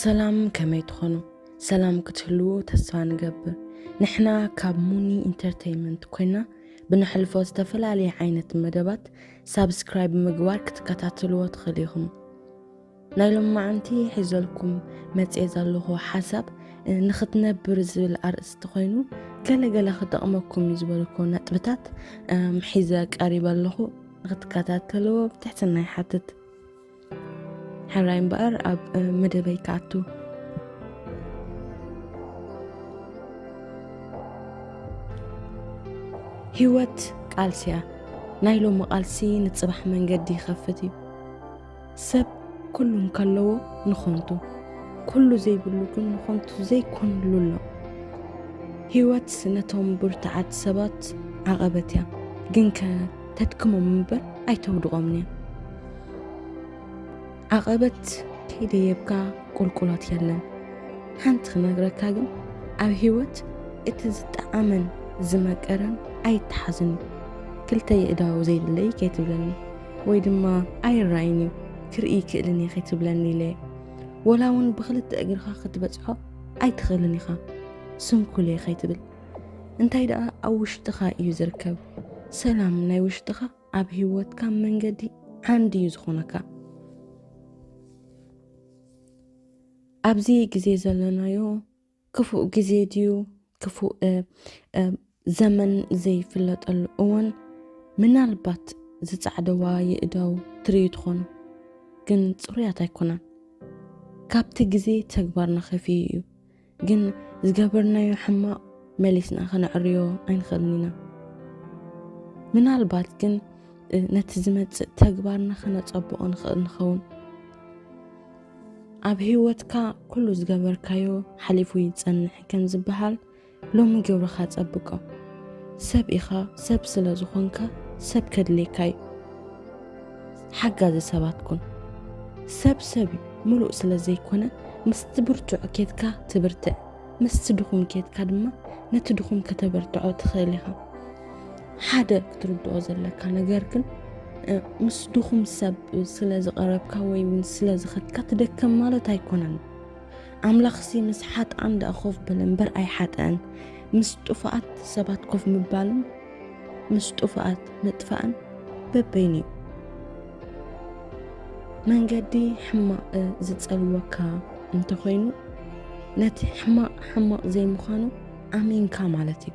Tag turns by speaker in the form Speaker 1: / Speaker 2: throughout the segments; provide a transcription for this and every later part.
Speaker 1: ሰላም ከመይ ትኾኑ ሰላም ክትህልዎ ተስፋ ንገብር ንሕና ካብ ሙኒ ኢንተርተይንመንት ኮይና ብንሕልፎ ዝተፈላለየ ዓይነት መደባት ሳብስክራይብ ምግባር ክትከታተልዎ ትኽእል ኢኹም ናይ ሎማዓንቲ ሒዘልኩም መጽየ ዘለኹ ሓሳብ ንኽትነብር ዝብል ኣርእስቲ ኮይኑ ገለ ገለ ክጠቕመኩም እዩ ዝበልኩ ነጥብታት ሒዘ ቀሪበ ኣለኹ ንኽትከታተልዎ ብትሕትና ይሓትት ሕራይ እምበኣር ኣብ መደበይ ክኣቱ ህይወት ቃልሲ እያ ናይ ሎሚ ቃልሲ ንፅባሕ መንገዲ ይኸፍት እዩ ሰብ ኩሉ እንከለዎ ንኾንቱ ኩሉ ዘይብሉ ግን ንኾንቱ ዘይኮንሉ ኣሎ ህይወት ነቶም ብርትዓት ሰባት ዓቐበት እያ ግን ከ ተድክሞም እምበር ኣይተውድቖምን እያ ዓቐበት ከይደየብካ ቁልቁሎት የለን ሓንቲ ክነግረካ ግን ኣብ ህይወት እቲ ዝጠዓመን ዝመቀረን ኣይተሓዝን እዩ ክልተ የእዳው ዘይብለይ ከይትብለኒ ወይ ድማ ኣይራይን እዩ ክርኢ ይክእልን እየ ከይትብለኒ ኢለ ወላ እውን ብክልተ እግርካ ክትበፅሖ ኣይትኽእልን ኢኻ ስንኩል እየ ከይትብል እንታይ ደኣ ኣብ ውሽጥኻ እዩ ዝርከብ ሰላም ናይ ውሽጥኻ ኣብ ህይወትካ መንገዲ ዓንዲ እዩ ዝኾነካ ኣብዚ ግዜ ዘለናዮ ክፉእ ግዜ ድዩ ክፉእ ዘመን ዘይፍለጠሉ እዋን ምናልባት ዝጻዕደዋ የእዳው ትርእዩ ትኾኑ፣ ግን ጽሩያት ኣይኮናን። ካብቲ ግዜ ተግባርና ከፊኡ እዩ፣ ግን ዝገበርናዮ ሕማቕ መሊስና ከነዕርዮ ኣይንኽእልን ኢና። ምናልባት ግን ነቲ ዝመጽእ ተግባርና ከነጸብቖ ንኽእል ንኸውን። ኣብ ህይወትካ ኩሉ ዝገበርካዮ ሓሊፉ ይጸንሕ ከም ዝበሃል ሎሚ ግብርኻ ጸብቆ። ሰብ ኢኻ፣ ሰብ ስለ ዝኾንካ ሰብ ከድልየካ እዩ። ሓጋዚ ሰባት ኩን። ሰብ ሰብ እዩ፣ ምሉእ ስለ ዘይኮነ ምስቲ ብርቱዕ ኬትካ ትብርትዕ፣ ምስቲ ድኹም ኬትካ ድማ ነቲ ድኹም ከተበርትዖ ትኽእል ኢኻ። ሓደ ክትርድኦ ዘለካ ነገር ግን ምስ ድኹም ሰብ ስለ ዝቐረብካ ወይ እውን ስለ ዝኸድካ ትደከም ማለት ኣይኮነን ኣምላኽሲ ምስ ሓጥኣን ደኣ ኮፍ በለ እምበር ኣይሓጠአን ምስ ጥፉኣት ሰባት ኮፍ ምባልን ምስ ጥፉኣት ምጥፋእን በበይኑ እዩ መንገዲ ሕማቕ ዝጸልወካ እንተኾይኑ ነቲ ሕማቕ ሕማቕ ዘይምዃኑ ኣሚንካ ማለት እዩ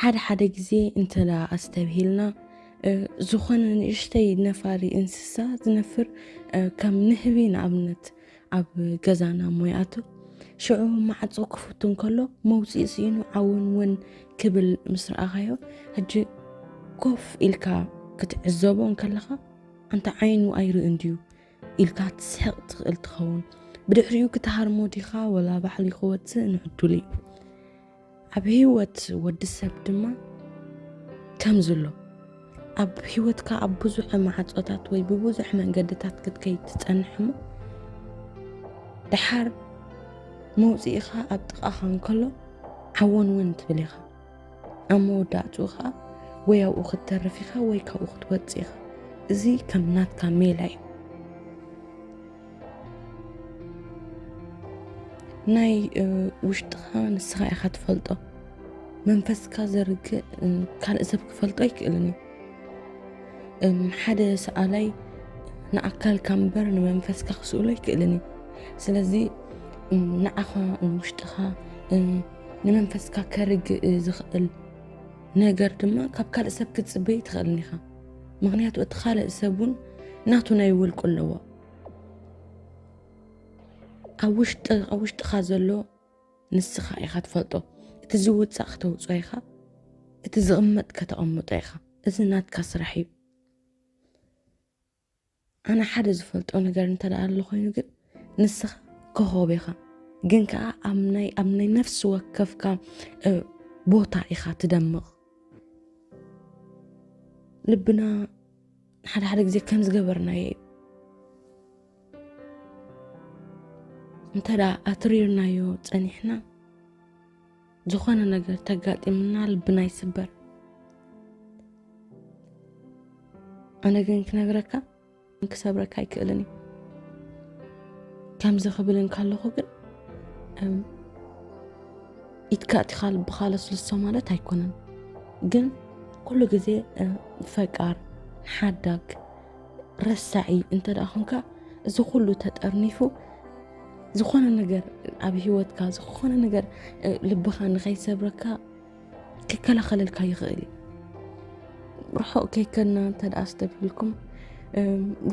Speaker 1: ሓደ ሓደ ግዜ እንተ ኣስተብሂልና፣ ዝኾነ ንእሽተይ ነፋሪ እንስሳ ዝነፍር ከም ንህቢ ንኣብነት ኣብ ገዛና እሞ ይኣቱ፣ ሽዑ ማዕጾ ክፍቱ እንከሎ መውጽኢ ስኢኑ ዓወንወን ክብል ምስ ረኣኻዮ ሕጂ ኮፍ ኢልካ ክትዕዘቦ እንከለኻ ኣንታ ዓይኑ ኣይርእን ድዩ ኢልካ ትስሕቕ ትኽእል ትኸውን ብድሕሪኡ ክትሃርሞ ዲኻ ወላ ባዕሉ ክወፅእ ንዕዱል እዩ ኣብ ህይወት ወዲ ሰብ ድማ ከምዚ ኣሎ ኣብ ህይወትካ ኣብ ብዙሕ ማዕፆታት ወይ ብብዙሕ መንገድታት ክትከይድ ትፀንሕ እሞ ደሓር መውፅኢኻ ኣብ ጥቓኻ እንከሎ ዓወን እውን ትብል ኢኻ ኣብ መወዳእትኡ ኸዓ ወይ ኣብኡ ክትተርፍ ኢኻ ወይ ካብኡ ክትወፅእ ኢኻ እዚ ከም ናትካ ሜላ እዩ ናይ ውሽጥኻ ንስኻ ኢኻ ትፈልጦ መንፈስካ ዘርግእ ካልእ ሰብ ክፈልጦ ኣይክእልን እዩ ሓደ ሰኣላይ ንኣካልካ እምበር ንመንፈስካ ክስእሎ ኣይክእልን እዩ ስለዚ ንዓኻ ንውሽጥኻ ንመንፈስካ ከርግእ ዝኽእል ነገር ድማ ካብ ካልእ ሰብ ክትፅበይ ትኽእልን ኢኻ ምክንያቱ እቲ ካልእ ሰብ እውን ናቱ ናይ ውልቁ ኣለዎ ኣብ ውሽጢ ኣብ ውሽጢኻ ዘሎ ንስኻ ኢኻ ትፈልጦ እቲ ዝውፃእ ክተውፅኦ ኢኻ እቲ ዝቕመጥ ከተቐምጦ ኢኻ እዚ ናትካ ስራሕ እዩ ኣነ ሓደ ዝፈልጦ ነገር እንተ ደኣ ኣሎ ኮይኑ ግን ንስኻ ኮኸብ ኢኻ ግን ከዓ ኣብ ናይ ኣብ ናይ ነፍሲ ወከፍካ ቦታ ኢኻ ትደምቕ ልብና ሓደ ሓደ ግዜ ከም ዝገበርናዮ እዩ እንተ ደኣ ኣትሪርናዮ ፀኒሕና ዝኾነ ነገር ተጋጢምና ልብና ይስበር ኣነ ግን ክነግረካ ክሰብረካ ኣይክእልን እዩ ከምዚ ክብል እንከለኹ ግን ኢትካ እቲኻ ልብኻ ለስልሶ ማለት ኣይኮነን ግን ኩሉ ግዜ ፈቃር ሓዳግ ረሳዒ እንተ ደኣ ኹንካ እዚ ኩሉ ተጠርኒፉ ዝኾነ ነገር ኣብ ሂወትካ ዝኾነ ነገር ልብኻ ንኸይሰብረካ ክከላኸለልካ ይኽእል እዩ ርሑቕ ከይከና እንተ ደኣ ዝተብህልኩም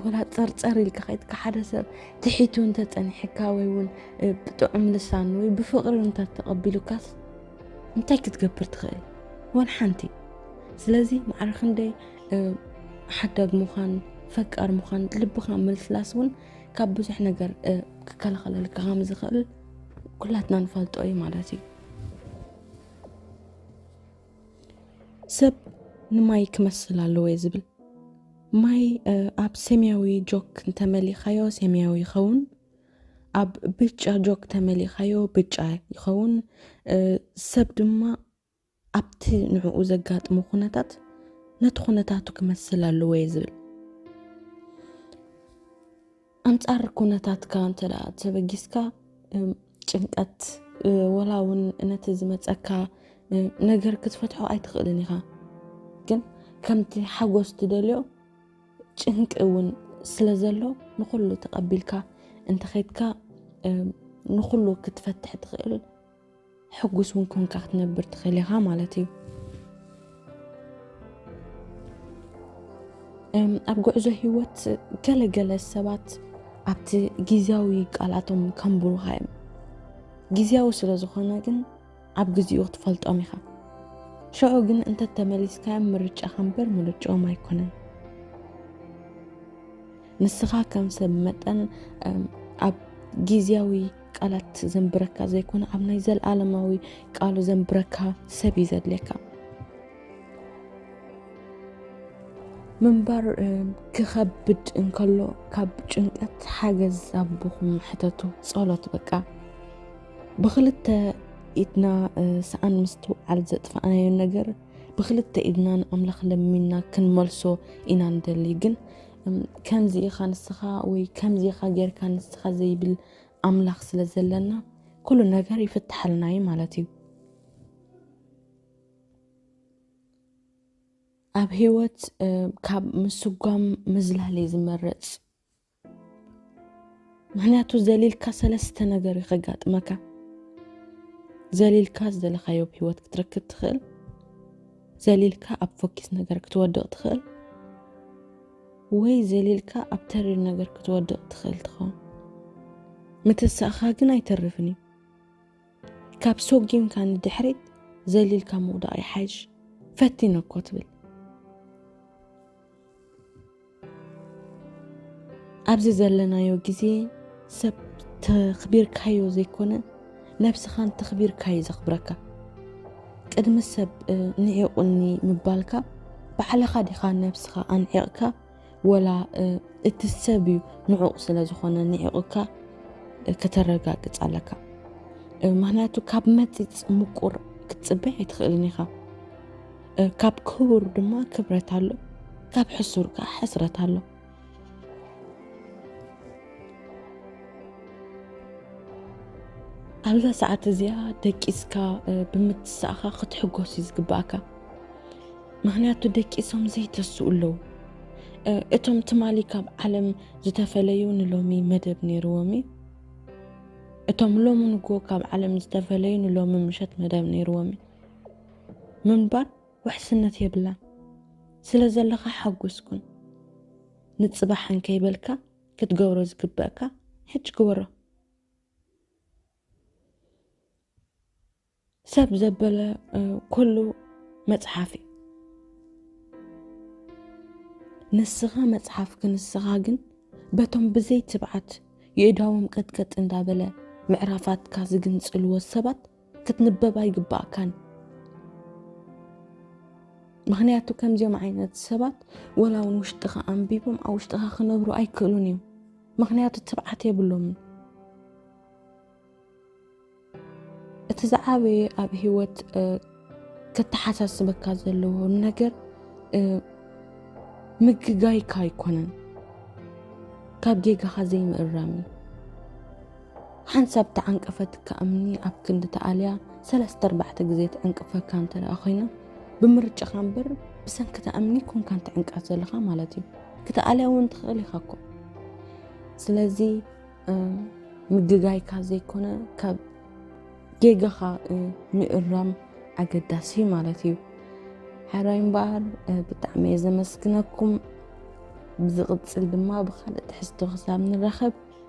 Speaker 1: ወላ ፀርፀር ኢልካ ከይትካ ሓደ ሰብ ትሒቱ እንተፀኒሕካ ወይ እውን ብጥዑም ልሳን ወይ ብፍቕሪ እንተተቐቢሉካስ እንታይ ክትገብር ትኽእል ወን ሓንቲ ስለዚ ማዕረ ክንደይ ሓዳግ ምዃን ፈቃር ምዃን ልብኻ ምልስላስ እውን ካብ ብዙሕ ነገር ክከላኸለልካ ከም ዝኽእል ኩላትና ንፈልጦ እዩ ማለት እዩ ሰብ ንማይ ክመስል ኣለዎ እየ ዝብል ማይ ኣብ ሰማያዊ ጆክ እንተመሊኻዮ ሰማያዊ ይኸውን ኣብ ብጫ ጆክ ተመሊኻዮ ብጫ ይኸውን ሰብ ድማ ኣብቲ ንዕኡ ዘጋጥሞ ኩነታት ነቲ ኩነታቱ ክመስል ኣለዎ እየ ዝብል። ኣንጻር ኩነታትካ እንተ ደኣ ተበጊስካ ጭንቀት ወላ እውን ነቲ ዝመጸካ ነገር ክትፈትሖ ኣይትኽእልን ኢኻ። ግን ከምቲ ሓጎስ ትደልዮ ጭንቂ እውን ስለ ዘሎ ንኹሉ ተቐቢልካ እንተኸይድካ ንኹሉ ክትፈትሕ ትኽእል ሕጉስ እውን ኮንካ ክትነብር ትኽእል ኢኻ ማለት እዩ። ኣብ ጉዕዞ ህይወት ገለ ገለ ሰባት ኣብቲ ግዜያዊ ቃላቶም ከንብሩኻ እዮም ግዜያዊ ስለ ዝኾነ ግን ኣብ ግዜኡ ክትፈልጦም ኢኻ ሽዑ ግን እንተተመሊስካዮም ምርጫኻ እምበር ምርጫኦም ኣይኮነን ንስኻ ከም ሰብ መጠን ኣብ ግዜያዊ ቃላት ዘንብረካ ዘይኮነ ኣብ ናይ ዘለኣለማዊ ቃሉ ዘንብረካ ሰብ እዩ ዘድልየካ ምንባር ክኸብድ እንከሎ ካብ ጭንቀት ሓገዝ ኣቦኹም ሕተቱ ጸሎት በቃ ብክልተ ኢድና ሰኣን ምስትውዓል ዘጥፋእናዮ ነገር ብክልተ ኢድና ንኣምላኽ ለሚና ክንመልሶ ኢና ንደሊ ግን ከምዚ ኢኻ ንስኻ ወይ ከምዚ ኢኻ ጌርካ ንስኻ ዘይብል ኣምላኽ ስለ ዘለና ኩሉ ነገር ይፍትሓልና እዩ ማለት እዩ። ኣብ ህይወት ካብ ምስጓም ምዝላል እዩ ዝመረፅ። ምክንያቱ ዘሊልካ ሰለስተ ነገር እዩ ከጋጥመካ። ዘሊልካ ዝደለካዮ ብ ህይወት ክትረክብ ትኽእል፣ ዘሊልካ ኣብ ፎኪስ ነገር ክትወድቕ ትኽእል፣ ወይ ዘሊልካ ኣብ ተሪር ነገር ክትወድቕ ትኽእል ትኸውን። ምትሳእኻ ግን ኣይተርፍን እዩ። ካብ ሶጊምካ ንድሕሪት ዘሊልካ ምውዳቕ ይሓይሽ። ፈቲነ እኮ ትብል። ኣብዚ ዘለናዮ ግዜ ሰብ ተኽቢርካዮ ዘይኮነ ነብስኻ እንተኽቢርካ እዩ ዘኽብረካ ቅድሚ ሰብ ንዒቑኒ ምባልካ ባዕልኻ ዲኻ ነብስኻ ኣንዒቕካ ወላ እቲ ሰብ እዩ ንዑቕ ስለ ዝኾነ ንዒቕካ ከተረጋግፅ ኣለካ ምክንያቱ ካብ መፂፅ ምቁር ክትፅበ ኣይትኽእልን ኢኻ ካብ ክቡር ድማ ክብረት ኣሎ ካብ ሕሱር ከዓ ሕስረት ኣሎ ኣብዛ ሰዓት እዚኣ ደቂስካ ብምትሳእኻ ክትሕጎስ እዩ ዝግባእካ ምክንያቱ ደቂሶም ዘይተስኡ ኣለዉ እቶም ትማሊ ካብ ዓለም ዝተፈለዩ ንሎሚ መደብ ነይርዎም እዩ እቶም ሎሚ ንጎ ካብ ዓለም ዝተፈለዩ ንሎሚ ምሸት መደብ ነይርዎም እዩ ምንባር ውሕስነት የብላን ስለዘለካ ሓጉስ ኩን ንጽባሕ እንከይበልካ ክትገብሮ ዝግበእካ ሕጂ ግበሮ። ሰብ ዘበለ ኩሉ መጽሓፍ እዩ። ንስኻ መጽሓፍ ክንስኻ ግን በቶም ብዘይ ትብዓት የእዳዎም ቀጥቀጥ እንዳበለ ምዕራፋትካ ዝግንጽልዎ ሰባት ክትንበብ ኣይግባእካን ምክንያቱ ከምዚኦም ዓይነት ሰባት ወላ እውን ውሽጥኻ ኣንቢቦም ኣብ ውሽጥኻ ክነብሩ ኣይክእሉን እዮም ምክንያቱ ትብዓት የብሎምን እቲ ዝዓበየ ኣብ ሂወት ከተሓሳስበካ ዘለዎ ነገር ምግጋይካ ኣይኮነን ካብ ጌጋኻ ዘይምእራም እዩ ሓንሳብ ተዓንቀፈትካ እምኒ ኣብ ክንዲ ትኣልያ ሰለስተ ኣርባዕተ ግዜ ትዕንቅፈካ እንተ ደኣ ኮይና፣ ብምርጫኻ እምበር ብሰንኪ እታ እምኒ ኣይኮንካን ትዕንቀፍ ዘለኻ ማለት እዩ። ክትኣልያ እውን ትኽእል ኢኻ እኮ። ስለዚ ምግጋይካ ዘይኮነ ካብ ጌጋኻ ምእራም ኣገዳሲ እዩ ማለት እዩ። ሓራይ እምበኣር ብጣዕሚ እየ ዘመስግነኩም። ብዝቕፅል ድማ ብካልእ ትሕዝቶ ክሳብ ንራኸብ